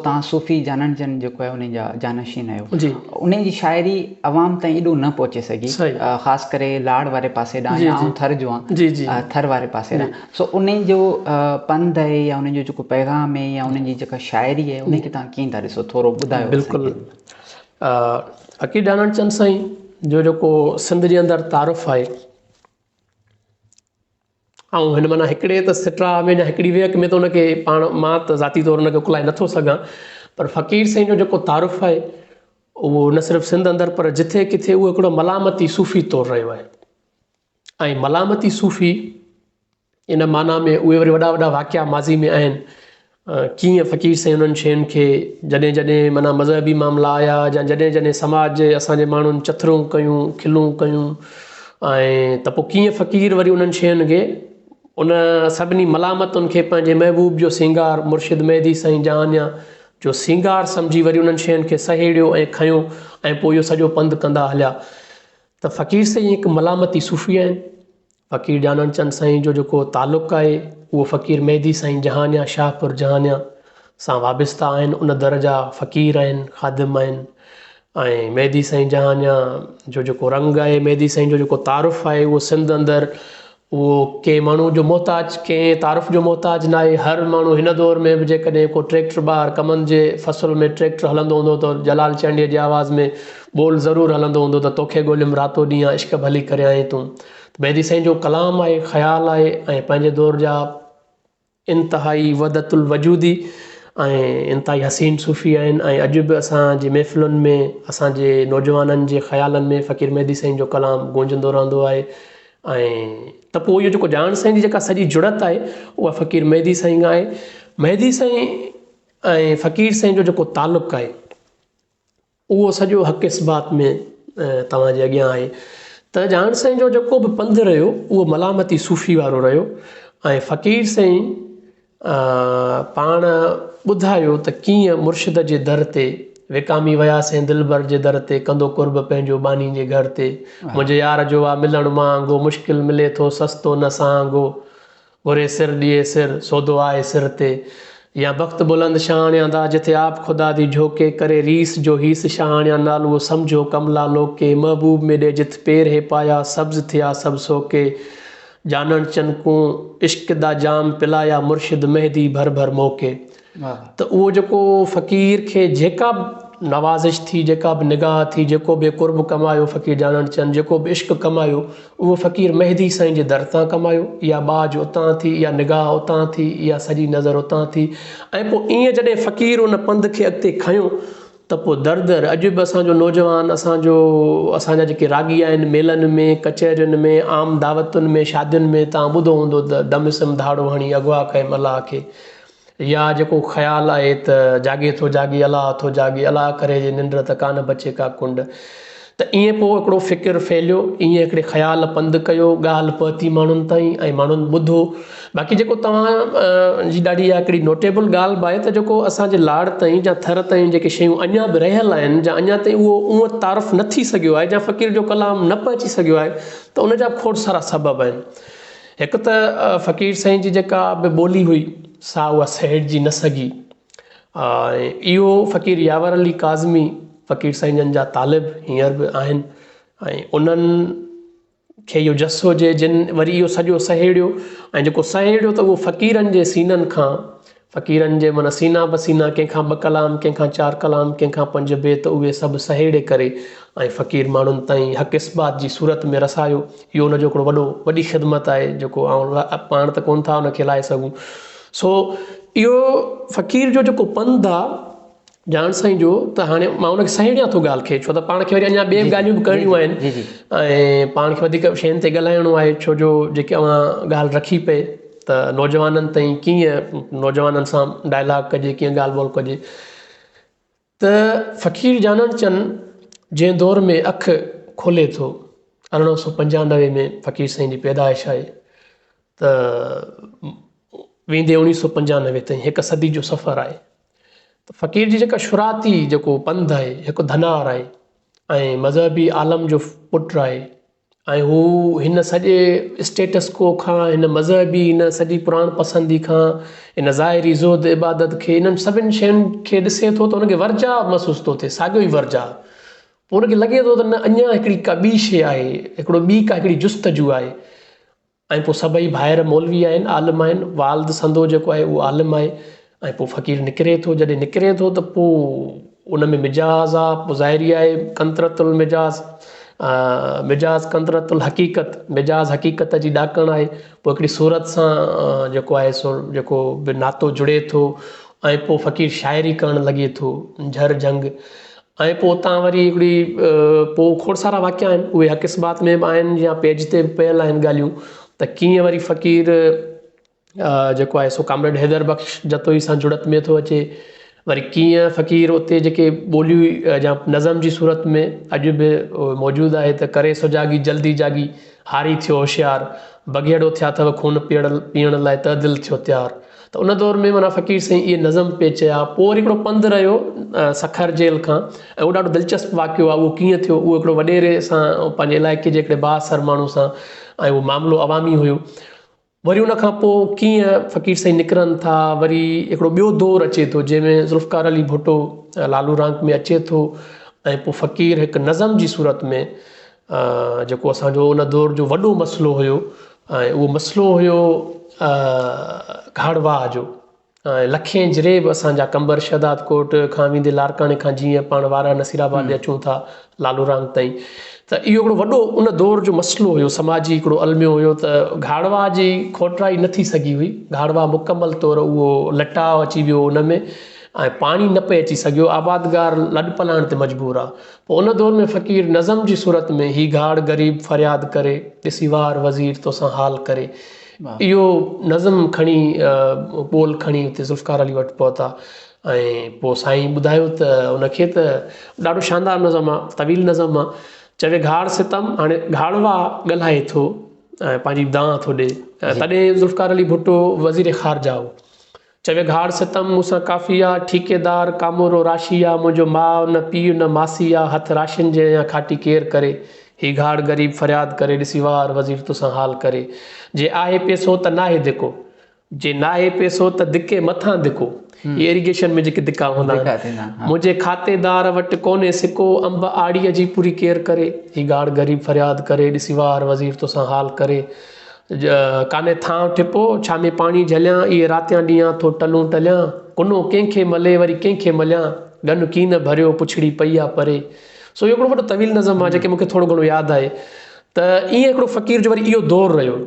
توهان صوفي جانڻ جن جيڪو آهي انهن جا جانشين آهيو انهن جي شاعري عوام تائين ايڏو نه پهچي سگهي خاص ڪري لاڙ واري پاسي ڏانهن يا آئون ٿر جو آهيان ٿر واري پاسي ڏانهن سو انهن جو پنڌ آهي يا انهن جو جيڪو پيغام آهي يا انهن جي جيڪا شاعري آهي انهن کي تهان ڪيئن ٿا ڏسو ٿورو ٻڌايو بلڪل عقيد جانڻ چند سائين جو جيڪو سنڌ جي اندر تعارف آهي آئون هن معنيٰ هڪڙي ته سٽراء ۾ يا هڪڙي ويهڪ ۾ ته ان کي پاڻ مان ته ذاتي طور ان کي اڪلائي نٿو سگهان پر فقير سائين جو جيڪو تعارف آهي اهو نه صرف سنڌ اندر پر جٿي ڪٿي اهو هڪڙو ملامتي صوفي طور رهيو آهي ۽ ملامتي صوفي ان معنيٰ ۾ اهي وري وڏا وڏا واقعا ماضي ۾ آهن ڪيئن فقير سائين انهن شين کي جڏهن جڏهن معنيٰ مذهبي معاملا آيا يا جڏهن جڏهن سماج جي اسان جي ماڻهن چٿرون ڪيون کلون ڪيون ۽ ته پوء ڪيئن فقير وري انهن شين کي ان سڀني ملامتن کي پنهنجي محبوب جو سينگار مرشد مهدي سائين جهانيان جو سينگار سمجهي وري انهن شين کي سهيڙيو ۽ کنيو ۽ پوء اهو سڄو پنڌ ڪندا هليا ته فقير سائين هڪ ملامتي صوفي آهن فقير ڄاڻڻ چند سائين جو جيڪو تعلق آهي اهو فقير مهدي سائين جهانيان شاهپور جهانيان سان وابسته آهن ان در جا فقير آهن خادم آهن ۽ مهدي سائين جهانيان جو جيڪو رنگ آهي مهدي سائين جو جيڪو تعارف آهي اهو سنڌ اندر اهو ڪنهن ماڻهو جو محتاج ڪنهن تعارف جو محتاج نه آهي هر ماڻهو هن دور ۾ به جيڪڏهن ڪو ٽريڪٽر ٻاهر ڪمند جي فصل ۾ ٽريڪٽر هلندو هوندو ته جلال چانڊيي جي آواز ۾ ٻول ضرور هلندو هوندو ته توکي ڳوليم راتو ڏينهن آ عشق ڀلي ڪريانء تون ته مهدي سائين جو ڪلام آهي خيال آهي ۽ پنهنجي دور جا انتهائي وحدت الوجودي ۽ انتهائي حسين صوفي آهن ۽ اڄ به اسانجي محفلن ۾ اسانجي نوجوانن جي خيالن ۾ فقير مهدي سائين جو ڪلام گونجندو رهندو آهي ۽ ته پوء اهو جيڪو جان سائين جي جيڪا سڄي جڙت آهي اها فقير مهدي سائين کان آهي مهدي سائين ۽ فقير سائين جو جيڪو تعلق آهي اهو سڄو حق اثبات ۾ توهان جي اڳيان آهي ته جهان سائين جو جيڪو به پنڌ رهيو اهو ملامتي صوفي وارو رهيو ۽ فقير سائين پاڻ ٻڌايو ته ڪيئن مرشد جي در تي وڪامي وياسين دلبر جي در تي ڪندو قرب پنهنجو ٻانهي جي گهر تي منهنجي يار جو آ ملڻ مهانگو مشڪل ملي ٿو سستو نه سهانگو گهري سر ڏيئي سر، سودو آهي سر تي. يا بخت بلند شاهاڻيان دا جٿي آپ خدا دي جهوڪي، ڪري ريس جو هيس شاهاڻيان نالوء سمجهو ڪملا لوڪي، محبوب مي ڏي جٿ پير هي پايا، سبز ٿيا سڀ سوڪي. جانڻ چن ڪون عشق دا جام پلايا مرشد مهدي ڀر ڀر موڪي. ته اهو جيڪو فقير کي جيڪا به نوازش ٿي، جيڪا به نگاهه ٿي، جيڪو به قرب ڪمايو فقير جانڻ چند، جيڪو به عشق ڪمايو اهو فقير مهدي سائين جي در تان ڪمايو، اها ٻاجهه اتان ٿي، اها نگاهه اتان ٿي، اها سڄي نظر اتان ٿي ۽ پوء ايئن جڏهن فقير ان پنڌ کي اڳتي کنيو ته پوء در در اڄ به اسان جو نوجوان اسان جو اسان جا جيڪي راڳي آهن ميلن ۾ ڪچهرين ۾ عام دعوتن ۾ شادين ۾ توهان ٻڌو هوندو ته دم سم ڌاڙو هڻي اغوا ڪيم الله کي يا جيڪو خيال آهي ته جاڳي ٿو جاڳي الاء ٿو جاڳي الاء ڪري جي ننڊ ته ڪانه بچي ڪا ڪنڊ ته ايئن پوء هڪڙو فڪر ڦهليو ايئن هڪڙي خيال پنڌ ڪيو ڳالهه پهتي ماڻهن تائين ۽ ماڻهن ٻڌو باقي جيڪو توهان جي ڏاڍي اها هڪڙي نوٽيبل ڳالهه به آهي ته جيڪو اسان جي لاڙ تائين جا ٿر تائين جيڪي شيون اڃا به رهيل آهن جا اڃا تائين اهو اونء تعارف نه ٿي سگهيو آهي جا فقير جو ڪلام نه پهچي سگهيو آهي ته ان جا به کوڙ سارا سبب آهن هڪ ته فقير سائين جي جيڪا به ٻولي هئي سا اها سهيڙجي نه سگهي ۽ اهو فقير ياور علي ڪاظمي فقير سائين جن جا طالب هينئر به آهن ۽ انهن کي اهو جس هجي جن وري اهو سڄو سهيڙيو ۽ جيڪو سهيڙيو ته اهو فقيرن جي سينن کان فقيرن جي من سينا به سينا ڪنهن کان ٻه ڪلام ڪنهن کان چار ڪلام ڪنهن کان پنج بيت اهي سڀ سهيڙي ڪري ۽ فقير ماڻهن تائين حق اثبات جي صورت ۾ رسايو اهو ان جو هڪڙو وڏو وڏي خدمت آهي جيڪو آئون پاڻ ته ڪونه ٿا ان کي لائي سگهون سو اهو فقير جو جيڪو پنڌ آهي جان سائين جو ته هاڻي مان ان کي سهيڙيان ٿو ڳالهه کي ڇو ته پاڻ کي وري اڃا ٻيئي به ڳالهيون به ڪرڻيون آهن ۽ پاڻ کي وڌيڪ شين تي ڳالهائڻو آهي ڇو جو جيڪي اوهان ڳالهه رکي پئي ته نوجوانن تائين ڪيئن نوجوانن سان ڊائلاگ ڪجي ڪيئن ڳالهه ٻولهه ڪجي ته فقير جانڻ چن جنهن دور ۾ اک کولي ٿو ارڙهن سو پنجانوي ۾ فقير سائين جي پيدائش آهي ته ويندي اڻيهه سو پنجانوي تائين هڪ صدي جو سفر آهي ته فقير جي جيڪا شھراتي جيڪو پنڌ آھي ھڪ ڌنار آھي ۽ مذھبي عالم جو پٽ آھي ۽ ھو ھن سڄي اسٽيٽس ڪو کان ھن مذھبي ھن سڄي پراڻ پسندي کان ھن ظاھري زھد عبادت کي ھنن سڀني شين کي ڏسي ٿو ته ھنکي ورجاء محسوس ٿو ٿئي ساڳيو ئي ورجاء پوء ھنکي لڳي ٿو ته نه اڃان ھڪڙي ڪا ٻي شيء آھي ھڪڙو ٻي ڪا ھڪڙي جستجو آھي ۽ پوء سڀئي ڀائر مولوي آهن، عالم آهن، والد سندو جيڪو آهي اهو عالم آهي ۽ پوء فقير نڪري ٿو، جڏهن نڪري ٿو ته پوء ان ۾ مجاز آ، پوء ظاهري آهي قنطرة المجاز، مجاز قنطرة الحقيقت، مجاز حقيقت جي ڏاڪڻ آهي، پوء هڪڙي صورت سان جيڪو آهي سو جيڪو به ناتو جڙي ٿو ۽ پوء فقير شاعري ڪرڻ لڳي ٿو، جهر جهنگ ۽ پوء اتان وري هڪڙي پوء کوڙ سارا واقعا آهن اهي حق اثبات ۾ به آهن يا پيج تي به پيل آهن ڳالهيون ته ڪيئن وري فقير جيڪو آهي سو ڪامريڊ حيدر بخش جتوئي سان جڙت ۾ ٿو اچي وري ڪيئن فقير اتي جيڪي ٻوليون يا نظم جي صورت ۾ اڄ به موجود آهي ته ڪري سجاڳي جلدي جاڳي هاري ٿيو هوشيار بگهيڙو ٿيا اٿئو خون پيئڻ لاء ته دل ٿيو تيار ته ان دور ۾ معنيٰ فقير سائين اهي نظم پئي چيا پوء وري هڪڙو پنڌ رهيو سکر جيل کان ۽ اهو ڏاڍو دلچسپ واقعو آهي اهو ڪيئن ٿيو اهو هڪڙو وڏيري سان پنهنجي علائقي جي هڪڙي بااثر ماڻهو سان ۽ اهو معاملو عوامي هيو وري ان کان پوء ڪيئن فقير سائين نڪرن ٿا وري هڪڙو ٻيو دور اچي ٿو جنهن ۾ ذوالفقار علي ڀٽو لالو رانڪ ۾ اچي ٿو ۽ پوء فقير هڪ نظم جي صورت ۾ جيڪو اسان جو ان دور جو وڏو مسئلو هيو ۽ اهو مسئلو هيو گهڙواهه جو ۽ لکين جريب اسان جا قمبر شهداد ڪوٽ کان ويندي لاڙڪاڻي کان جيئن پاڻ وارهه نصير آباد ڏي اچون ٿا لالو رام تائين ته اهو هڪڙو وڏو ان دور جو مسئلو هيو سماجي هڪڙو الميو هيو ته گهڙواهه جي کوٽرائي نه ٿي سگهي هئي گهڙواهه مڪمل طور اهو لٽاء اچي ويو ان ۾ ۽ پاڻي نه پئي اچي سگهيو آبادگار لڏپلاڻ تي مجبور هئا ان دور ۾ فقير نظم جي صورت ۾ هي گهاڙ غريب فرياد ڪري، ڏسي وار وزير توسان حال ڪري. اهو نظم کڻي ٻول کڻي اتي ذوالفقار علي وٽ پهتا ۽ پوء سائين ٻڌايو ته ان کي ته ڏاڍو شاندار نظم آ، طويل نظم آ، چوي گهاڙ ستم هاڻي گهاڙوا ڳالهائي ٿو ۽ پنهنجي دانهن ٿو ڏئي. تڏهن ذوالفقار علي ڀٽو وزير خارجه هو. چوي گهاڙ ستم مون سان ڪافي آ، ٺيڪيدار ڪامورو راشي آ، منهنجو ماء نه پيء نه ماسي آ، هٿ راشين جي اڃا کاٽي ڪير ڪري، هي گهاڙ غريب فرياد ڪري، ڏسي وار وزير تو سان حال ڪري، جي آهي پيسو ته ناهي ڌڪو. جي ناهي پيسو ته ڌڪي مٿان ڌڪو، هي ايريگيشن ۾ جيڪي ڌڪا هوندا آهن، منهنجي کاتيدار وٽ ڪونهي سڪو، انب آڙيء جي پوري ڪير ڪري، هي گهاڙ غريب فرياد ڪري، ڏسي وار وزير تو سان حال ڪري، ڪانه ٿانء ٺپو، ڇا ۾ پاڻي جهليان، اهي راتيان ڏينهان ٿو ٽلون ٽليان، ڪنو ڪنهن کي ملي وري ڪنهن کي مليان، ڳن ڪين ڀريو پڇڙي پئي آ پري. سو اهو هڪڙو وڏو طويل نظم آهي جيڪي مون کي ٿورو گهڻو ياد آهي ته ائين هڪڙو فقير جو وري اهو دور رهيو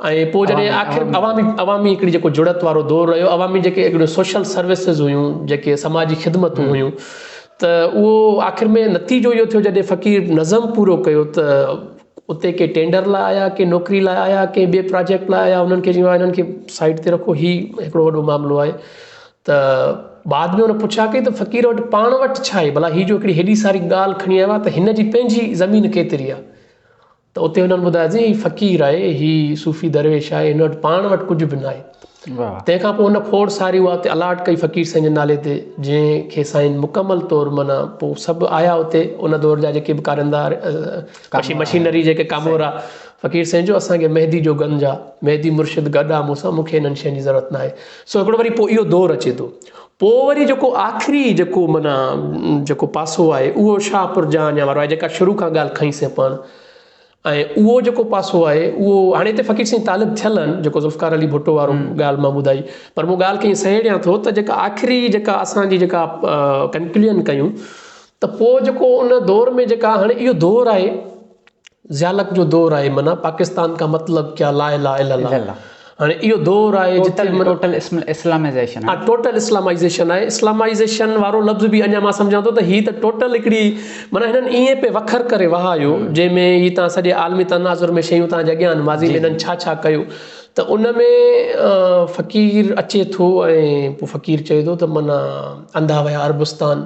۽ پوء جڏهن آخر عوامي عوامي هڪڙي جيڪو جڙت وارو دور رهيو عوامي جيڪي هڪڙيون سوشل سروسز هيون جيڪي سماجي خدمتون هيون ته اهو آخر ۾ نتيجو اهو ٿيو جڏهن فقير نظم پورو ڪيو ته اتي ڪي ٽينڊر لاء آيا ڪي نوڪري لاء آيا ڪي ٻي پراجيڪٽ لاء آيا انهن کي چيو ويو آهي کي سائيٽ تي رکو هي هڪڙو وڏو معاملو آهي ته بعد ۾ ان پڇا ڪئي ته فقير وٽ پاڻ وٽ ڇا آهي ڀلا هي جو هڪڙي هيڏي ساري ڳالهه کڻي آيو آهي ته هن جي پنهنجي زمين ڪيتري آهي ته اتي هنن ٻڌايو سين هي فقير آهي هي صوفي درويش آهي هن وٽ پاڻ وٽ ڪجهه به ناهي تنهن کان پوء ان کوڙ ساري اها اتي الاٽ ڪئي فقير سائين جي نالي تي جنهن کي سائين مڪمل طور معنيٰ پوء سڀ آيا اتي ان دور جا جيڪي به ڪاريندا ڪشي مشينري جيڪي ڪامورا فقير سائين جو اسان کي مهدي جو گنج آ مهدي مرشد گڏ آ مون سان مون کي انهن شين جي ضرورت ناهي سو هڪڙو وري پوء اهو دور اچي ٿو پوء وري جيڪو آخري جيڪو معنيٰ جيڪو پاسو آهي اهو شاهپور جهانيان وارو آهي جيڪا شروع کان ڳالهه کنئي سين پاڻ ۽ اهو جيڪو پاسو آهي اهو هاڻي هتي فقير سائين طالب ٿيل آهن جيڪو ذوالفقار علي ڀٽو وارو ڳالهه مان ٻڌائي پر مون ڳالهه کي ائين سهيڙيان ٿو ته جيڪا آخري جيڪا اسان جي جيڪا ڪنڪليون ڪيون ته پوء جيڪو ان دور ۾ جيڪا هاڻي اهو دور آهي ضيالڪ جو دور آهي معنيٰ پاڪستان ڪا مطلب ڪيا لا اله الا الله هاڻي اهو دور آهي جتي امن. ٽوٽل اسلامائيزيشن آهي. ٽوٽل اسلامائيزيشن آهي. اسلامائيزيشن وارو لفظ به اڃا مان سمجهان ٿو ته هي ته ٽوٽل هڪڙي معنيٰ هنن ائين پئي وکر ڪري وهايو جنهن ۾ هي تان سڄي عالمي تناظر ۾ شيون تان جي اڳيان آهن ماضي ۾ هنن ڇا ڇا ڪيو ته ان ۾ فقير اچي ٿو ۽ پوء فقير چئي ٿو ته معنيٰ انڌا ويا عربستان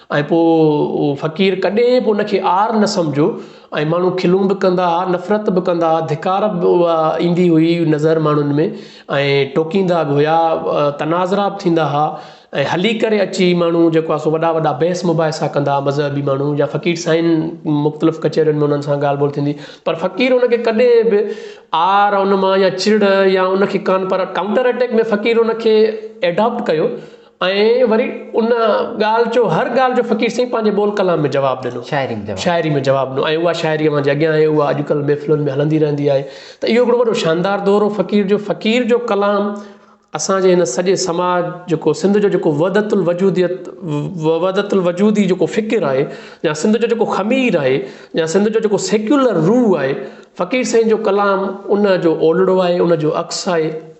۽ پوء اهو فقير ڪڏهن به ان کي عار نه سمجهيو ۽ ماڻهو کلون به ڪندا ها نفرت به ڪندا ها ڌڪار به ايندي هئي نظر ماڻهن ۾ ۽ ٽوڪيندا به هيا تناظرا به ٿيندا ها ۽ هلي ڪري اچي ماڻهو جيڪو آهي سو وڏا وڏا بحث مباحثا ڪندا ها مذهبي ماڻهو يا فقير سائين مختلف ڪچهرين ۾ انهن سان ڳالهه ٻولهه ٿيندي پر فقير ان کي ڪڏهن به عار ان مان يا چڙ يا ان کي ڪانه پر ڪائونٽر اٽيڪ ۾ فقير ان کي ايڊاپٽ ڪيو ۽ وري ان ڳالهه جو هر ڳالهه جو فقير سائين پنهنجي ٻول ڪلام ۾ جواب ڏنو شاعري ۾ جواب شاعري ۾ جواب ڏنو ۽ اها شاعري اوهان جي اڳيان آهي اها اڄڪلهه محفلن ۾ هلندي رهندي آهي ته اهو هڪڙو وڏو شاندار دور هو فقير جو فقير جو ڪلام اسان جي هن سڄي سماج جيڪو سنڌ جو جيڪو وحدت الوجوديت وحدت الوجودي جيڪو فڪر آهي يا سنڌ جو جيڪو خمير آهي يا سنڌ جو جيڪو سيڪيولر روح آهي فقير سائين جو ڪلام ان جو اولڙو آهي ان جو عڪس آهي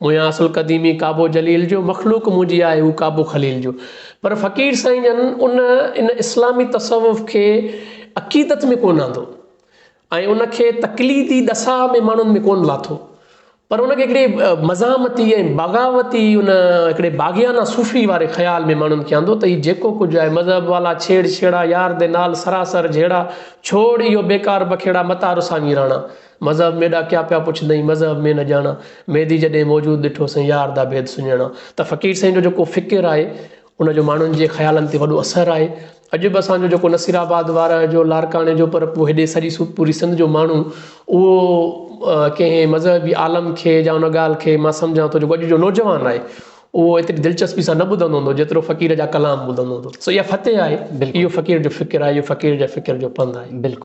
مونجهان اصل قديمي ڪعبو جليل جو، مخلوق منهنجي آهي هو ڪعبو خليل جو. پر فقير سائين جن ان ان اسلامي تصوف کي عقيدت ۾ ڪونه آندو ۽ ان کي تقليدي ڏساء ۾ ماڻهن ۾ ڪونه لاٿو پر ان کي هڪڙي مزاحمتي ۽ بغاوتي ان هڪڙي باغيانه صوفي واري خيال ۾ ماڻهن کي آندو ته هي جيڪو ڪجهه آهي مذهب والا ڇيڙ ڇيڙا يار دي نال سراسر جهيڙا ڇوڙ اهو بيڪار بکيڙا متان رساڱي راڻا مذهب ۾ ڏاڪيا پيا پڇندئين مذهب ۾ نه ڄاڻا ميدي جڏهن موجود ڏٺو سائين يار دا ڀيد سڃاڻا ته فقير سائين جو جيڪو فڪر آهي ان جو ماڻهن جي خيالن تي وڏو اثر آهي اڄ به اسان جو جيڪو نصير آباد وارهه جو لاڙڪاڻي جو پر پوء هيڏي سڄي پوري سنڌ جو ماڻهو اهو ڪنهن مذهبي عالم کي يا ان ڳالهه کي مان سمجهان ٿو جيڪو اڄ جو نوجوان آهي اهو ايتري دلچسپي سان نه ٻڌندو هوندو جيترو فقير جا ڪلام ٻڌندو هوندو سو اها فتح آهي اهو فقير جو فڪر آهي اهو فقير جا فڪر جو پنڌ آهي